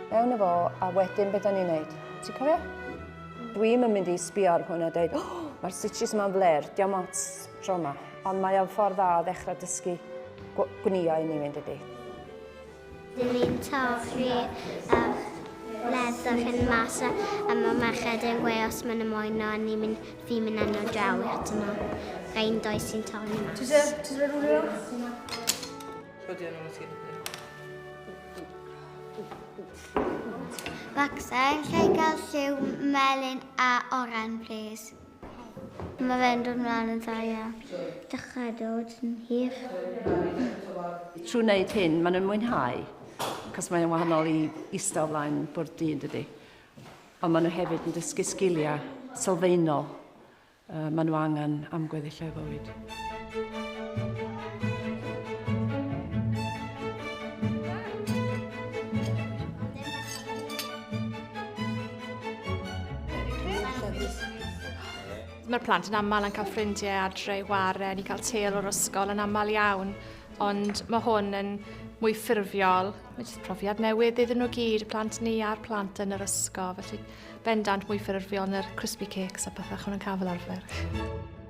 Mewn efo, a wedyn beth da ni'n neud? Ti'n cofio? Dwi'm yn mynd i sbio ar hwn a dweud, oh, mae'r stitches yma'n fler, diolch ots tro yma. Ond mae o'n ffordd dda o ddechrau dysgu gwnïo i ni fynd ydy. Dyn ni'n torri yr leather hyn mas a mae merched yn gwe os maen nhw moyn o a ni'n mynd, fi'n mynd enw draw i atyn nhw. Rhaid yn doi sy'n torri mas. Ti'n dweud, ti'n dweud rhywle yma? Rhoddi o'n ôl ti'n Baxter, lle gael lliw melyn a oren, please? Mae fe'n dod mlaen yn dda iawn. Dechrau dod yn hir. Trwy wneud hyn, maen nhw'n mwynhau, cos mae'n wahanol i eistedd o flaen bwrdd du, yn dydy. Ond maen nhw hefyd yn dysgu sgiliau sylfaenol uh, maen nhw angen am gweddill eu bywyd. Mae'r plant yn aml yn cael ffrindiau adre i chwarae, ni'n cael têl o'r ysgol yn aml iawn, ond mae hwn yn mwy ffurfiol. Mae jyst profiad newydd iddyn nhw gyd, y plant ni a'r plant yn yr ysgol, felly bendant mwy ffurfiol yn yr crispy cakes a pethau chwn yn cael fel arfer.